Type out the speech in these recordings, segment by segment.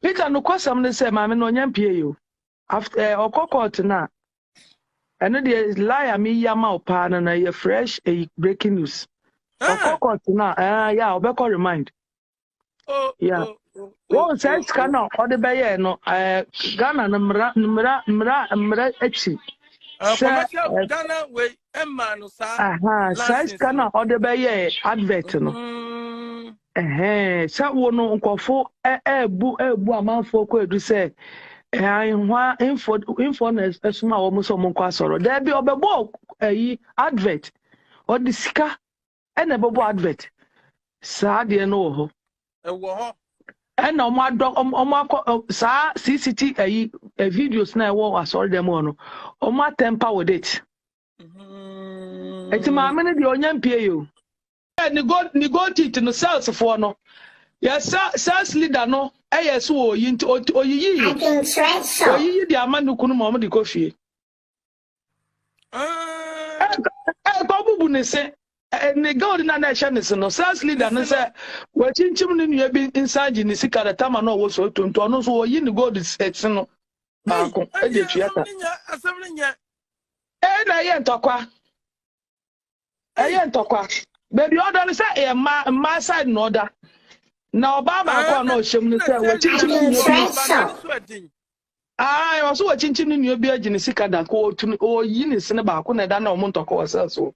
Peter nokwasɛm ne sɛ maame no ɔnya mpie yo after eh, ɔkɔ court no a ɛno deɛ lie a meyi ama wo paa no na ɛyɛ fresh ɛyi breaking news ɔkɔ ah. court no a ɛɛ eh, yɛ a ɔbɛkɔ remind oh, yɛ oh, oh, wɔn sɛ sika no a ɔde bɛyɛ no ɛɛ eh, Ghana no mmara mmara mmara mmara akyi sɛ Ghana wei ɛma no saa saa sika no a ɔde bɛyɛ advert no mm-hmm. Ɛhɛɛ, sɛ wo no nkurɔfo ɛɛbu ɛɛbu amanfoɔ kɔ edu sɛ ɛhwa info info na ɛsoma wɔn sɛ wɔn nkɔ asɔrɔ. Dɛbi ɔbɛbɔ ɛyi advert, ɔde sika ɛna ɛbɛbɔ advert. Saa adeɛ no wɔ hɔ. Ɛwɔ hɔ. Ɛna wɔn adɔ wɔn akɔ saa CCT ɛyi videos na ɛwɔ asɔrɔ dɛm hɔ no, wɔn atɛmpa with it. nti maame no deɛ ɔnya mpie yi o ne gold ne gold teeth no sales foɔ no yɛ sales leader no ɛyɛ so wɔ oyi nti oyiyi oyiyi de ama ne kunu ma ɔmo de kɔ fie ɛkɔ bubu ne se ne gold na na ɛhyɛ ne se no sales leader no sɛ wɔakyinkyim ne nua bi nsa gye ne sika de tama na ɔwɔ so tonto ɔno nso wɔyi ne gold se no baako ɛde tua ta. Ee, na ɛyɛ ntɔkwa. Ɛyɛ ntɔkwa. Baabi a ɔda no sɛ ɛyɛ mmaa mmaa side na ɔda. Na ɔbaa baako a na ɔhyɛ mu no sɛ wɔkyinkyim ne nua bi. Aa, ɛwɔ so wɔkyinkyim ne nua bi agye ne sika da ko otu ne oyi ne sene baako na ɛda na wɔn ntɔkwa wɔ sɛ so.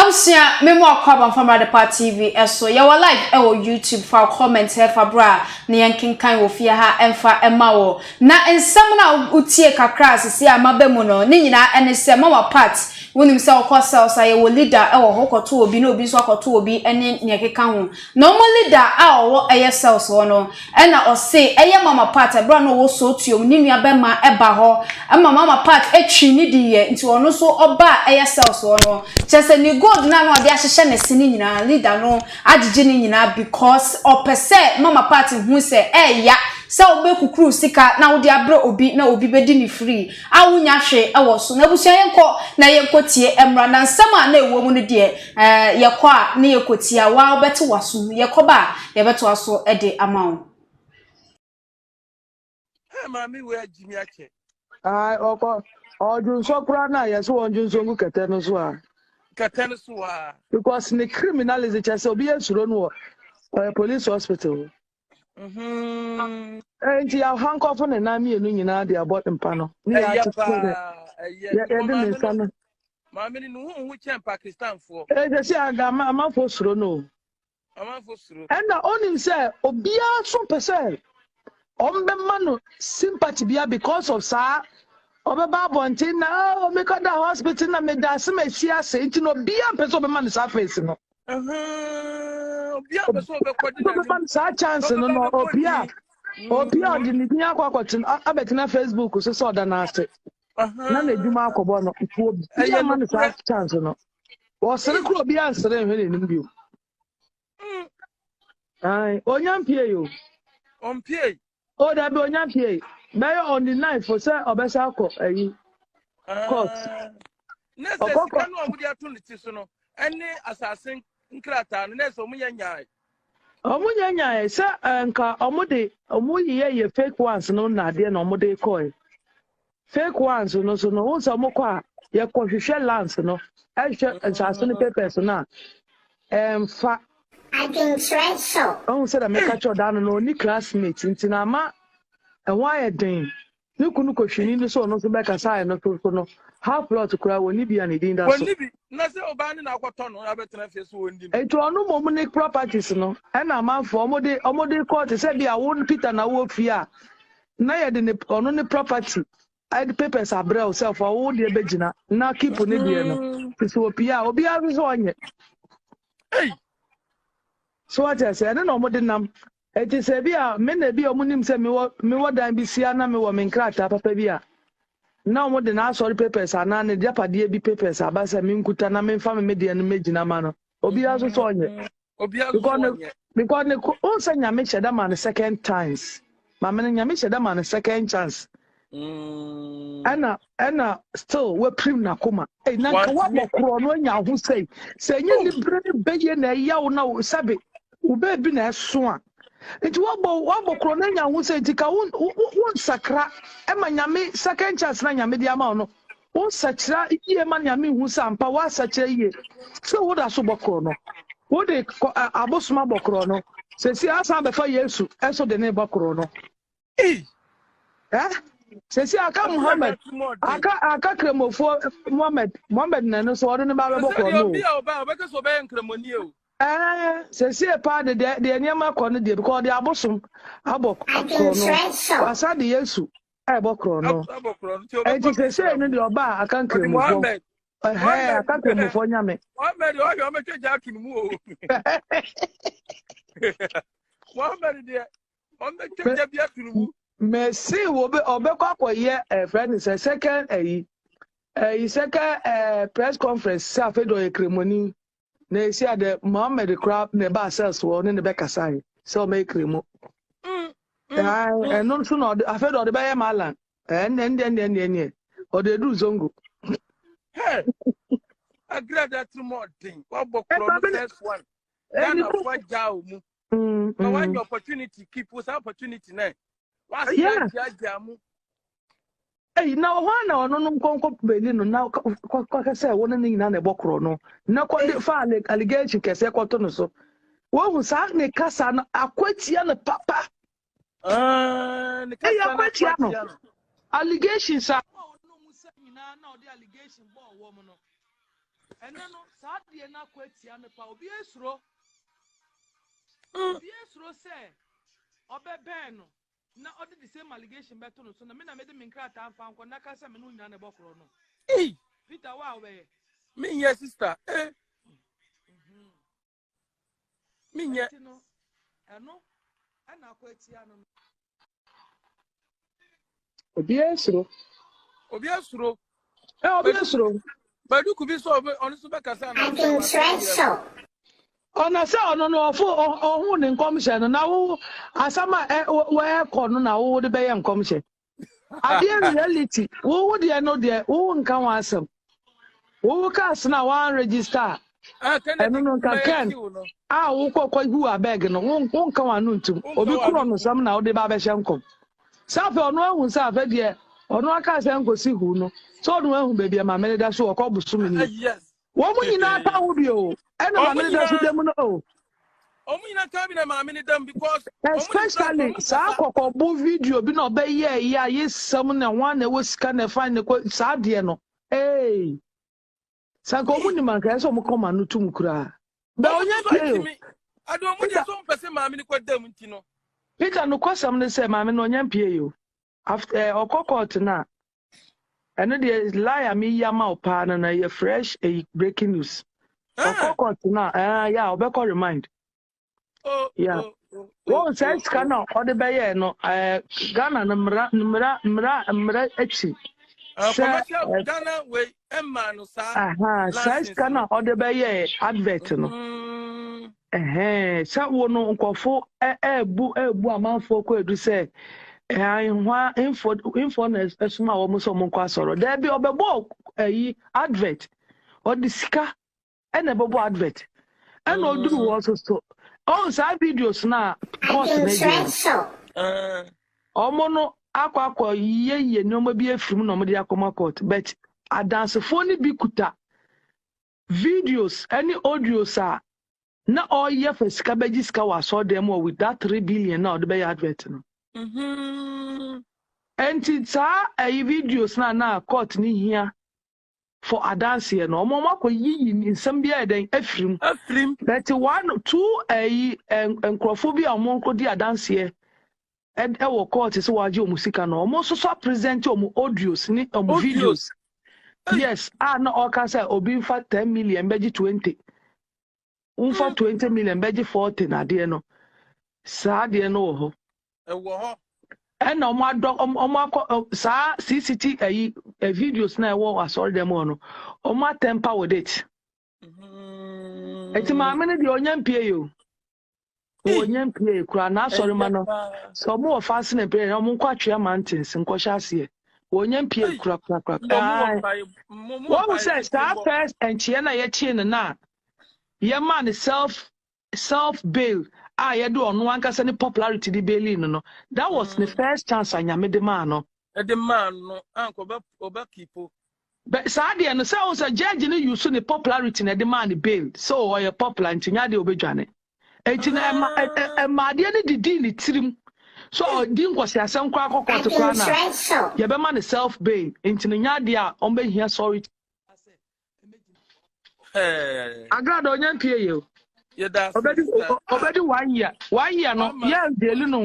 Abusua me mo akɔ aba mfamrɛ adepa TV so yɛ wɔ live ɛwɔ YouTube fa wo comment hɛ fa bra na yɛn kenkan wɔ fie ha ɛnfa ɛma wo na nsɛm no a wo tie kakra a sisi a maba mu no ne nyinaa ɛne sɛ mama part wo nim sɛ wo kɔ cells a yɛ wɔ leader ɛwɔ hɔ wo kɔ to obi na obi nso akɔ to obi ɛne neɛ ɛkeka ho. Na ɔmo leader a ɔwɔ ɛyɛ cells hɔ no ɛna ɔse ɛyɛ mama pat ɛberɛ a na ɔwɔ sootuom ne nua bɛma ɛba hɔ ɛma mama pat ɛtwii ne di yɛ nti ɔno nso ɔbaa ɛyɛ cells hɔ no kyerɛ sɛ ne gold no a na ɔde ahyehyɛ ne se no nyinaa leader no agyegye ne nyinaa because ɔpɛ sɛ mama pat hu sɛ ɛɛya sɛ wobɛ kukuru sika na wode abrɛ obi na obi bɛdi no free a wonya hwee ɛwɔ so na abusua yɛnkɔ na yɛnkɔ tie ɛmmra na nsɛm a na ɛwɔ mu no deɛ Eh, yɛkɔ a na yɛkɔtia wo a wobɛte w'asom, yɛkɔba a yɛbɛtoa so de ama wo. Ẹ maame wei agye mi akyɛ. Ae, ɔkɔ ɔdwonsɔ koraa no a yɛsɛ wɔn dwonsɔ ngu kɛtɛ no so a. Kɛtɛ no so a. Because ne criminalism kyɛ sɛ obi yɛ suro no wɔ ɔyɛ police hospital. Mm-hmm. Eh, nti ahonkɔfo ne nan mmienu nyinaa de abɔ mpa no ne yɛde ne nsa no maame no ne ho ho kyɛn pakistanfoɔ ɛsɛ eh, sɛ aga amanfoɔ suro no amanfoɔ suro ɛna ɔnim sɛ obiara so pɛ sɛ ɔmbɛma no sympathy bia because of saa ɔbɛba abɔnten na ɔmekɔda oh, hospital na meda ase ma ɛsi ase nti na obiara mpɛ sɛ ɔbɛma no saa face no saa chance no no obi a obi a ɔde ne din akɔ akɔtena abɛtena facebook so sɛ ɔda n'ase na n'adwuma akɔbɔ no obi ama no saa chance no wɔsere koro obi ansere nhwɛ n'anim bio mm. onya mpie yi o ɔmpie Oh dabi onya pie. Bɛyɛ on the ninth for sɛ ɔbɛsa akɔ ayi. Court. Ah, na sɛ Ɔkɔ sika no a wɔde ato ne ti so no ɛne asase nkrataa no na ɛsɛ wɔn yɛ nyae Ɔmo nyɛ nyae sɛ eh, nka ɔmo de ɔmo yiyɛ yɛ fake ones no na adeɛ na ɔmo de kɔɛ. fake ones no so no wohu sɛ wɔkɔ a yɛkɔhwehwɛ lands no ɛhwɛ nsaase no papers no a ɛmfa adwenkyerɛ so ɔhu sɛ dɛ meka kyerɛ ɔda no na ɔni classmate nti na ama ɛho ayɛ den ne kunu kɔhwini no sɛ ɔno nso bɛka sɛ ayɛ no so no half plot koraa wɔni bi a ne din da so wɔni bi na sɛ ɔbaa ne na akɔtɔ no abɛtena fie so wɔndi no nti ɔno mmom ne properties no ɛna amanfoɔ ɔmode ɔmode kɔɔte sɛ bi a wo peter na wɔ fie a na yɛde ne ɔno ne property ɛde papers abrɛ wo sɛ fa wo deɛ bɛgyina na keep ne deɛ no mm. te sɛ opie a obiara nso sɛ ɔnyɛ so wate ase ɛne na ɔmode nam ɛte sɛ bi a me na bi a ɔmonim sɛ mewɔ mewɔ dan bi sia na mewɔ me nkrataa papa bi a na ɔmode n'asɔre papers anaa ne gyapadeɛ bi papers aba sɛ menkuta na memfa me medeɛ no mɛgyina ma no obiara nso sɛ ɔnyɛ mm. because ne ko o sɛ nyame hyɛ da ma no second times maame no nyame hyɛ da ma no second chance mm. ɛna ɛna still wapirim n'akoma ɛyi eh, na nka wabɔ korɔ no anya ho sɛyi sɛ ɛnyɛ ne bere ne bɛyɛ na ɛyaw na sɛbe wobɛ bi na ɛso a nti wabɔ wabɔ korɔ na anya ho sɛ nti ka wo wo nsakra ɛma nyame second chance na nyame de ama wo no wo nsakyera yie ma nyame hu sɛ ampa woasakyera yie sɛ woda so bɔ korɔ no wode abosoma bɔ korɔ no sɛsi asan bɛfa yesu ɛso de ne bɔ korɔ no sɛsi aka muhammad aka aka kramofoɔ muhammad muhammad na no so ɔde ne ba bɛbɔ kɔn no o ɛɛ sɛsi paa de deɛ deɛ nneɛma kɔ no deɛ because ɔde abosom abɔ korɔ no wasa de yesu ɛbɔ korɔ no ɛnti sɛsi no deɛ ɔba aka kramofoɔ ɛhɛɛ aka kramofoɔ nyame. muhammad ɔhwɛ ɔmɛtwa gya ato ne mu o muhammad deɛ. mɛsi ɔbɛkɔ akɔyɛ ɛfɛ ne sɛ second ayi ɛyi second ɛɛ press conference sɛ afei de ɔyɛ kremoni na esi adɛ mohammed kora na ɛba asɛs wɔ ɔne ne bɛkasa yi sɛ ɔbɛyɛ kremo mm, mm, ɛno nso na ɔde afei de ɔde bɛyɛ malan ɛnɛ ɛnɛ ɛnɛ ɛnɛ ɛnɛ ɔde edu zongo. agrada tirimɔden wabɔ kuro no first one ghana fo agya omu. Mm, na wanya mm. opportunity keep wo saa opportunity na waseagyagya mu Hey, na ɔhɔ a na ɔno no nkɔnkɔ bɛni no na kɔkɛ sɛ wo ne no nyinaa na ɛbɔ korɔ no na kɔde fa allegation kɛseɛ kɔto no so wohu saa ne kasa no akwatia no papa Ah, ne kasa na kwatia no. Allegation sa. ɛnɛ no saa deɛ no akɔ atia no pa obi esuro obi esuro sɛ ɔbɛbɛn no na ɔde the same allegation bɛto no so na me na mede me nkrataa mfa nkɔ na ka sɛ me no nyina ne bɔkorɔ no peter wa wɛɛ menyɛ sister eh. menyɛ obiara suro obiara suro ɛ obiara suro baduku bi sọ ɔno nso bɛkasa na ɔna sɛ ɔno no ɔfo ɔho ne nkɔmhyɛ no na wo asɛm a wɔɛkɔ no na wode bɛyɛ nkɔmhyɛ adeɛ reality wo wo deɛ no deɛ wo nka ho asɛm wo wo kaa sena wɔn register a Ah, Kennedy, ɛno no nka mɛyɛ ken kiw no. a wokɔ kɔgu abeg no wo- wonka w'ano ntom Wonka obi w'ano korɔ no ntom. sɛm na wode ba bɛhyɛ nkɔm sɛ afei ɔno ahu sɛ afɛ deɛ ɔno aka sɛ nkɔsi hu no sɛ ɔno ahu baabi a mamene da so ɔkɔ bosom Ah, ni yes. Wɔn nyinaa ka wo bi o. Ɛna maame ne dam so dam no o. Wɔn nyinaa ka bi na maame ne dam because. Especially saa kɔkɔbo video bi na ɔbɛyɛ yi a yɛ sɛm na wɔn na ɛwɔ sika na ɛfa ne kɔ saa deɛ no. Ee. Sanka wɔn nim anka ɛsɛ wɔn kɔma no tum koraa. Bɛ onye pie o. Adi wɔn deɛ so mpɛsɛ maame ne kɔ dam nti no. Peter no kɔsɛm ne sɛ maame no onye pie o. After eh, ɔkɔ court no a ɛno deɛ lie a meyi ama wo paa no no ɛyɛ fresh ɛyi eh, breaking news ah. ɔkɔ court no a ɛɛ yɛ a ɔbɛkɔ remind oh, yeah. Oh, oh, wɔn sɛ sika na ɔde bɛyɛ no ɛɛ ghana no mmara mmara mmara mmara akyi sɛ ghana wei ɛmaa no saa license no. Saa sika na ɔde bɛyɛɛ advert no. Mm-hmm. Sɛ wo no nkɔfo ɛɛbu ɛɛbu amanfoɔ kɔ edu sɛ ɛhwa info info na ɛsoma wɔn sɛ wɔn nkɔ asɔrɔ. Dɛbi ɔbɛbɔ ɛyi advert ɔde sika. ɛna ɛbɛbɔ advert ɛna ɔduru hɔ so so ɔn saa videos no a kɔs no agyina ɔmo no akɔ akɔ yiyeyie nneɛma bi afiri mu na ɔmo de akɔma court but adansefoɔ no bi kuta videos ɛne audios a na ɔreyɛ fa sika bɛgye sika wɔ asɔɔdan mu wɔ with that three billion na ɔde bɛyɛ advert no. Mm-hmm. nti saa ɛyi videos na na court ne hia for adanseɛ no ɔmo ɔmo akɔ yiyi nsɛm bi ayɛ dɛn afiri mu afiri mu but one two ɛyi nkorɔfoɔ bi a ɔmo kɔ di adanseɛ ɛwɔ court sɛ wɔagye ɔmo sika no ɔmo nso so apresent ɔmo audios ne ɔmo videos yes a na ɔka sɛ obi nfa ten million bɛgye twenty womfa twenty million bɛgye forty na adeɛ no saa adeɛ no wɔ hɔ ɛwɔ hɔ ɛna wɔn adɔ wɔn akɔ saa cct ɛyi videos na ɛwɔ asɔre dɛm hɔ no wɔn atɛmpa with it ɛti mm-hmm. maame no deɛ ɔnya mpie yi o. wɔ eh. nyɛ mpie kura n'asɔre ma no sɛ ɔmo wɔ fasen na mpire na ɔmo nkɔ atwea mantins nkɔhyɛ aseɛ wɔ nyɛ mpie kura kura kura ɛɛ wɔn sɛ saa first nkyia na yɛkye no na yɛma no self self bail a yɛde ɔno ankasa ne popularity de baili no no that was ne mm. first chance anyame de maa no de maa no anka ɔbɛ ɔbɛ kipo. Bɛ saa deɛ no sɛ o sɛ judge no use ne popularity na ɛde maa no bail sɛ o ɔyɛ popular nti nyɛ adeɛ a obedwane nti na ɛma ɛ ɛ ɛma adeɛ no didii ne tirim sɛ ɔdi nkɔsiasɛm koraa kɔ kɔɔte koraa na yɛbɛma no self bail nti no nyɛ adeɛ a ɔbɛhia sorry Ɛɛ agrada ɔnya mpie yɛ o yɛda ase ɔbɛdi sister. ɔ- ɔbɛdi one year one year no Mama. yɛ jail no